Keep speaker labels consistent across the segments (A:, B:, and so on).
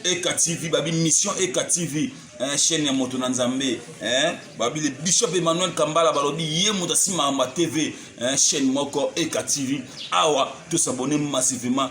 A: eka tv babi mission eka tv eh, chaîne ya moto na nzambe eh, babi le bishop emmanuel kambala balobi ye moto asimaka ma tv eh, chaîne moko eka tv awa tosabone massivement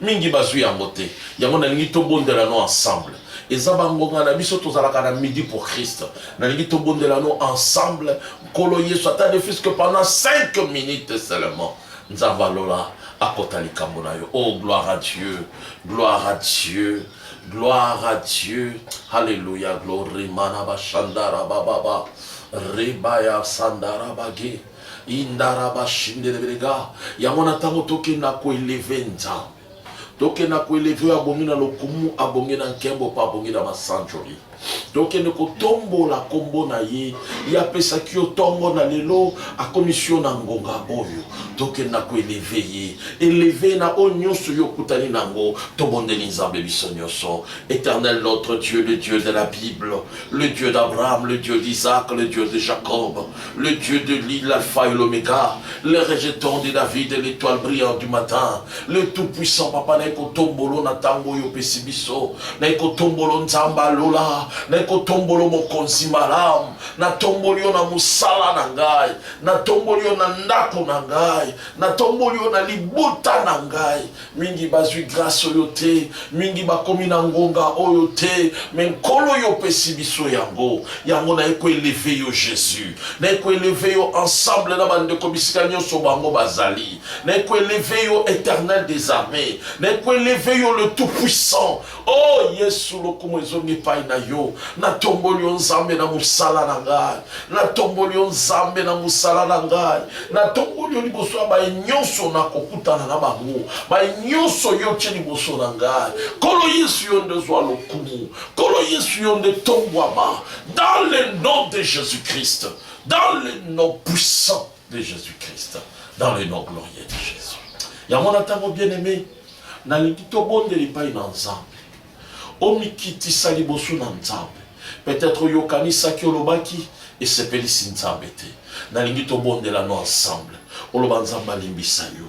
B: Mingi bazui yango te. Yango nalingi tobondela no ensemble. Eza bangonga na biso tozalaka na midi pour Christ. Nalingi tobondela no ensemble. Nkolo Yesu ata ne fils que pendant 5 minutes seulement. Nzambe alola akota likambo na yo. Oh gloire à Dieu. Gloire à Dieu. Gloire à Dieu. Alléluia. Glory manaba shandara bababa. Rebaya sandara bagi. Indaraba shindereberega. Yango na ntango tokenda koeleve Nzambe tokenda koeleve oyo abongi na lokumu abongi na nkembo mpe abongi na masanjoli tokende kotombola nkombo na ye ye apesaki yo ntongo na lelo akomisi yo na ngonga oyo tokenda koeleve ye eleve na oyo nyonso yo okutani na yango tobondeli nzambe biso nyonso éternel notre dieu le dieu de la bible le dieu d'abraham le dieu d'isaac le dieu de jacob le Dieu de l'île, l'alpha et l'oméga, le rejeton de David, l'étoile brillante du matin, le tout-puissant papa naiko tombolo na tango yo pesi biso, naiko tombolo nzamba lola, naiko tombolo mokonzi malam, na tomboli yo na musala na ngai, na tomboli yo na ndako na ngai, na tomboli yo na libota na ngai, Mingi bazwi grace oyo te, mingi bakomi na ngonga oyo te, me Nkolo yo opesi biso yango. Yango naye ko eleve yo Jesus, naye ko eleve yo ensemble na bandeko bisika nyonso bango bazali, naye ko eleve yo Eternel des armees, naye ko eleve yo le tout puissant Oh Yesu, lokumu ezongi epai na yo. Natomboli yo Nzambe na mosala na ngai, natomboli yo Nzambe na mosala na ngai, natomboli yo liboso ya baye nyonso nakokutana na bango, baye nyonso yo tye liboso na ngai. Nkolo Yesu, yo nde zwa lokumu. Nkolo Yesu, yo nde tombwama dans le nom de Jésus-Christ, dans le nom puissant de Jésus-Christ, dans le nom glorieux de Jésus. yango na ntango bien aimé Nalingi tobondela epai na Nzambe. Omikitisa liboso na Nzambe. Peut-être oyokanisaki, olobaki, esepelisi Nzambe te. Nalingi tobondela no ensemble. Oloba Nzambe alimbisa yo.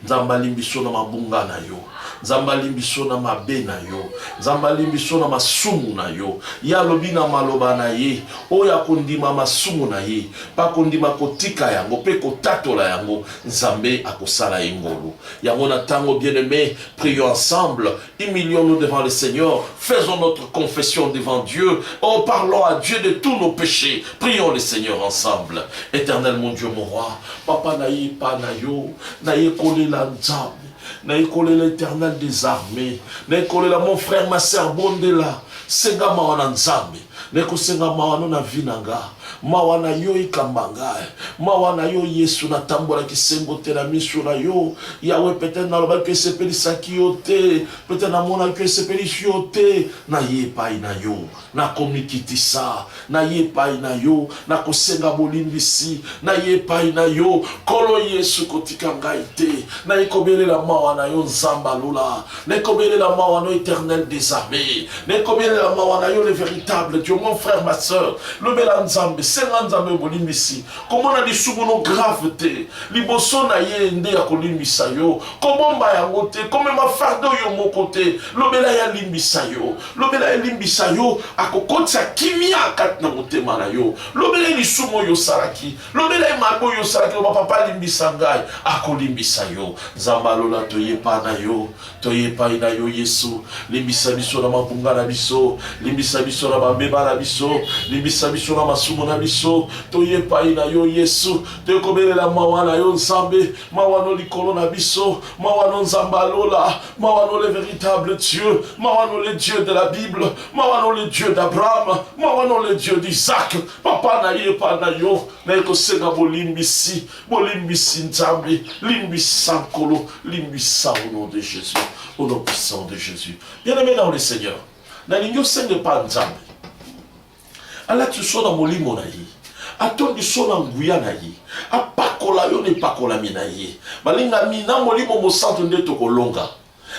B: Nzambe alimbisa yo na mabunga na yo. Nzambe alimbisa yo na mabe na yo. Nzambe alimbisa yo na masumu na yo. Ye alobi na maloba na ye, oyo akondima masumu na ye, mpe akondima kotika yango mpe kotatola yango, Nzambe akosala ye ngolu. Yango na tango bien aime, prions ensemble, humilions nous devant le Seigneur, faisons notre confession devant Dieu, oh parlons à Dieu de tous nos péchés, prions le Seigneur ensemble. Éternel mon Dieu, mon roi, papa na ye pa na yo, na ye kole la nzambe. na ekole l'éternel des armées na ekole la mon frère ma sœur bondela senga mawa na nzambe Nakosenga mawa no na vie na nga Mawa na yo ekamba nga eh. Mawa na yo Yesu Natambola kisengo te na miso na yo Yahweh Peut-être nalobaki oyo esepelisaki yo te Peut-être namonaki oyo esepelisi yo te Naye epayi na yo Nakomikitisa Naye epayi na yo Nakosenga bolimbisi Naye epayi na yo Nkolo Yesu kotika ngai te Naye kobelela mawa na yo Nzambe ya lola Nekobelela mawa no eternel des armées. Nekobelela mawa na yo le véritable Dieu mon frère ma sœur. Lobela Nzambe, senga Nzambe obolimbisi. Komona lisumu no grave te. Liboso na ye nde ya kolimbisa yo. Kobomba yango te, komema fardeau yo moko te. Lobela ya limbisa yo. Lobela ya limbisa yo, akokotisa kimia kati na motema na yo. Lobela lisumu yo salaki. lobela ye mabe oyo osalaki loba papa alimbisa ngai akolimbisa yo nzambe alola toye epai na yo toye epai na yo yesu limbisa biso na mabunga na biso limbisa biso na bambeba na biso limbisa biso na masumu na biso toye epai na yo yesu toye kobelela mawa na yo nzambe mawa no likolo na biso mawa no nzambe alola mawa no le véritable dieu mawa no le dieu de la bible mawa no le dieu d'abraham mawa no le dieu d'isaac Papa na ye epai na yo naye kosenga bolimbisi, bolimbisi Nzambe, limbisa Nkolo, limbisa au nom de Jésus, au nom puissant de Jésus. Bien-aimé dans le Seigneur, nalingi osenga epai Nzambe alati so na molimo na ye atondi so na nguya na ye apakola yo na epakolami na ye balingami na molimo mosantu nde tokolonga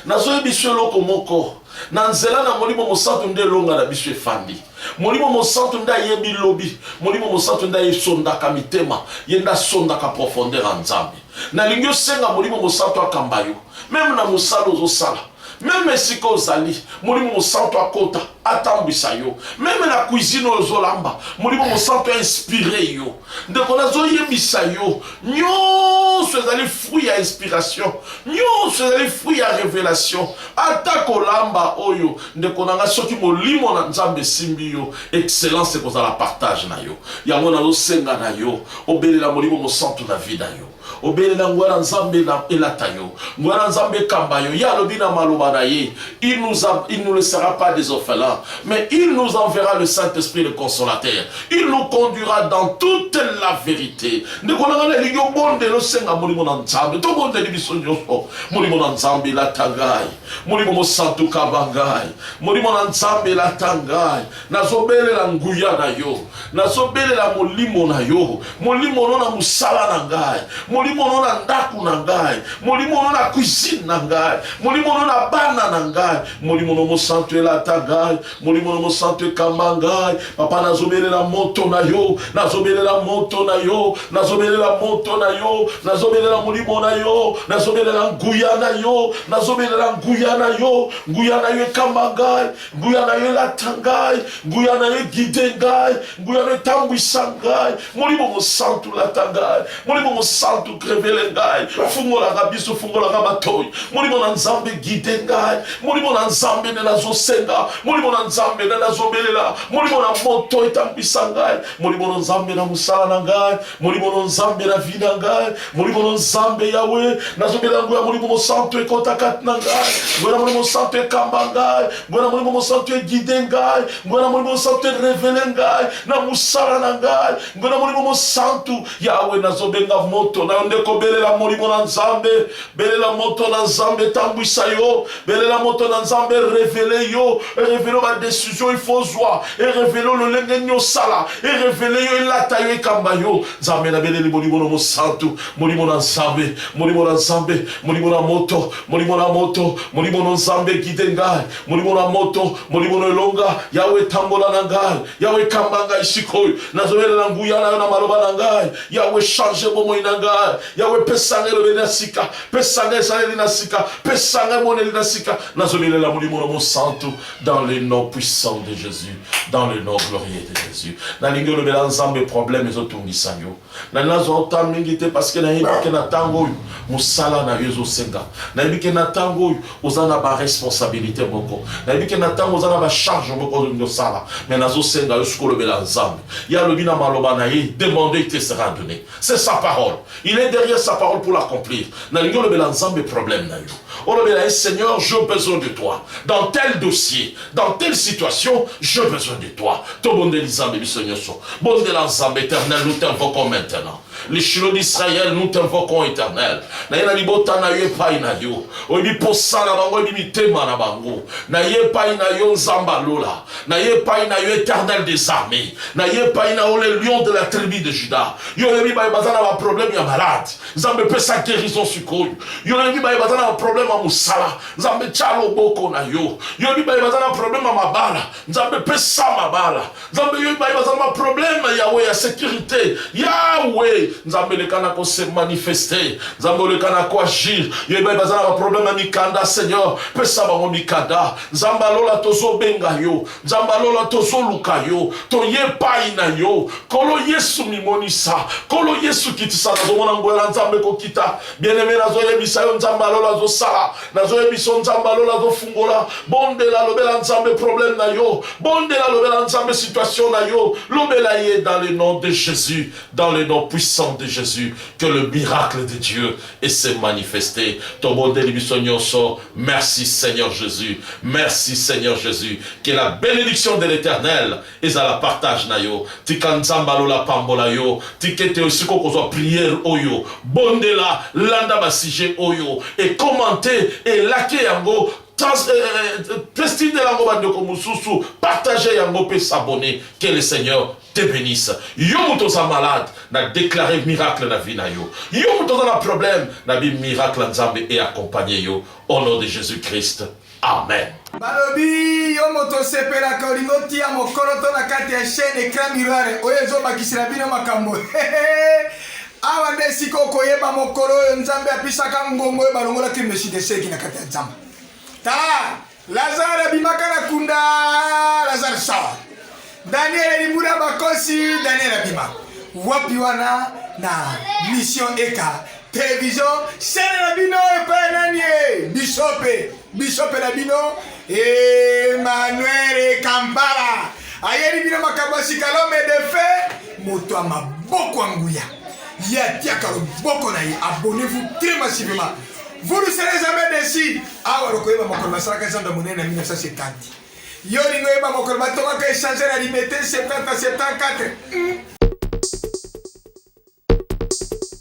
B: Nazoyebisa yo eloko moko, na nzela na Molimo Mosantu nde elonga na biso efandi. Molimo Mosantu nde ayebi lobi, Molimo Mosantu nde esondaka mitema, ye nde asondaka profondeur ya Nzambe. Nalingi osenga Molimo Mosantu akamba yo, meme na mosala ozosala meme esika ozali molimo mosantu akota atambwisa yo meme na cuisine oyo ozolamba molimo mosantu ainspire yo ndeko nazoyebisa yo nyonso ezali fruit ya inspiration nyonso ezali fruit ya revelation ata kolamba oyo ndeko na ngai soki molimo na nzambe esimbi yo excellence ekozala partage na yo yango nazosenga na yo obelela molimo mosantu na vi na yo obelela nguya na nzambe elata yo nguya na nzambe ekamba yo ye alobi na maloba na ye il nous, a, il nous laissera pas des orphelins mais il nous enverra le saint-esprit le consolateur il nous conduira dans toute la vérité ndeko nanga nalingi obondela osenga molimo na nzambe tobondeli biso nyonso molimo na nzambe elata ngai molimo mosantu kaba ngai molimo na nzambe elata ngai nazobelela nguya na yo nazobelela molimo na yo molimo no na mosala na ngai molimo no na ndako na ngai molimo no na cuisine na ngai molimo no na bana na ngai molimo no mosantu elata ngai molimo no mosantu ekamba ngai papa nazobelela moto na yo nazobelela moto na yo nazobelela moto na yo nazobelela molimo na yo nazobelela nguya na yo nazobelela nguya na yo nguya na yo ekamba ngai nguya na yo elata ngai nguya na yo egide ngai nguya na yo etambwisa ngai molimo mosantu lata ngai molimo mosantu krevele ngai fungolaka biso fungolaka matoi molimo na nzambe egide ngai molimo na nzambe nde nazosenga molimo na nzambe nde nazobelela molimo na moto etambwisa ngai molimo na nzambe na mosala na ngai molimo no nzambe na vi na ngai molimo no nzambe yawe nazobela yango ya molimo mosantu ekota kati na ngai ngoya na molimo mosantu ekamba ngai ngoya na molimo mosantu egide ngai ngoya na molimo mosantu erevele ngai na mosala na ngai ngoya na molimo mosantu yawe nazobenga moto na yo nde kobelela molimo na nzambe belela moto na nzambe etambwisa yo belela moto na nzambe erevele yo erevele badesizio ifo ozwa erevele lolenge nini osala erevele yo elata yo ekamba yo nzambe nabeleli molimo na mosantu molimo na nzambe molimo na nzambe molimo na moto molimo na moto molimo na nzambe gide ngai molimo na moto molimo na elonga yawe etambola na ngai yawe ekamba ngai sikoyo nazobelela nguya na yo na maloba na ngai yawe change bomoi na ngai Yawe, pesa ngai elobeli na sika, pesa ngai esaleli na sika, pesa ngai emoneli na sika. Nazobelela molimo na mosantu dans le nom puissant de Jésus, dans le nom glorieux de Jésus. Nalingi olobela Nzambe problème ezotungisa yo. Na nazwa ota mingi te parce que nayebi ke na ntango oyo mosala na yo ezosenga. Nayebi ke na ntango oyo oza na ba responsabilité moko. Nayebi ke na ntango oza na ba charge moko olingi osala. Mais nazosenga yo sikoyo olobela Nzambe. Ye alobi na maloba na ye, demandez, il te sera donné. C'est sa parole. Il est derrière sa parole pour l'accomplir. Nalingi olobela Nzambe problème na yo. Olobela ye Seigneur, j'ai besoin de toi. Dans tel dossier, dans telle situation, j'ai besoin de toi. Tobondeli Nzambe biso nyonso. Bondela Nzambe éternel, nous t'invoquons maintenant. Les Shiloh d'Israël, nous t'invoquons éternel. Naye na libota na yo epai na yo. Oyebi posa na bango, oyebi mitema na bango. Naye epai na yo Nzambe alola. na ye epai na yo éternel des armées na ye epai na yo le lion de la tribu de juda yo oyebi baye baza na baproblème ya malade nzambe epesa guérison sikoyo yo oyebi baye baza na baproblème ya mosala nzambe tya loboko na yo yo oyebi baye baza na problème ya mabala nzambe pesa mabala nzambe yoyebi baye baza na baproblème yawe ya sécurité yawe nzambe eleka na kose manifeste nzambe oleka na koagir yoyebi baye baza na baproblème ya mikanda seigneur pesa bango mikanda Nzambe ya lola tozo benga yo Nzambe ya lola tozo luka yo toye epai na yo Kolo Yesu mimonisa Kolo Yesu kitisa nazomona nguya na Nzambe kokita bieneme nazoyebisa yo Nzambe ya lola azosala nazoyebisa yo Nzambe ya lola azofungola bondela lobela Nzambe problème na yo bondela lobela Nzambe situation na yo lobela ye dans le nom de Jésus dans le nom puissant de Jésus que le miracle de Dieu et se manifester tobondeli biso nioso merci seigneur jesus merci seigneur jesus que la benediction de l'eternel ezala partage na yo tika nzambe ya lola apambola yo tika ete esika okozwa priere oyo bondela landa ba sujet oyo e commente elake yango testindela yango bandeko mosusu partage yango mpe s'abonner que le seigneur te benisse yo mutu oza malade na declare miracle na vie na yo yo mutu oza na problème na bi miracle ya nzambe e accompagne yo au nom de jesus christ amen balobi
C: yo moto osepelaka olingi otia mokoloto na kati ya chaine ecran mirare oyo ezobakisela bino makambo awa nde esika okoyeba mokolo oyo nzambe apisaka ngongo oyo balongolaki mesideseki na kati ya nzamba tala Lazare abimaka na kunda, Lazare sort. Daniel alibuna bakosi, Daniel abima. Wapi wana na mission eka television chaîne na bino epai nani e bishope bishope na bino Emmanuel Kampala ayeli bino makambo ya sikalome defe moto ya maboko ya nguya ye atiaka loboko na ye abonnez-vous très massivement Vous ne serez jamais déçus. Awa lokoyeba mokolo basalaka ezando monene na 1970. Yo lingo yeba mokolo batongaka échanger na liberté 70 74.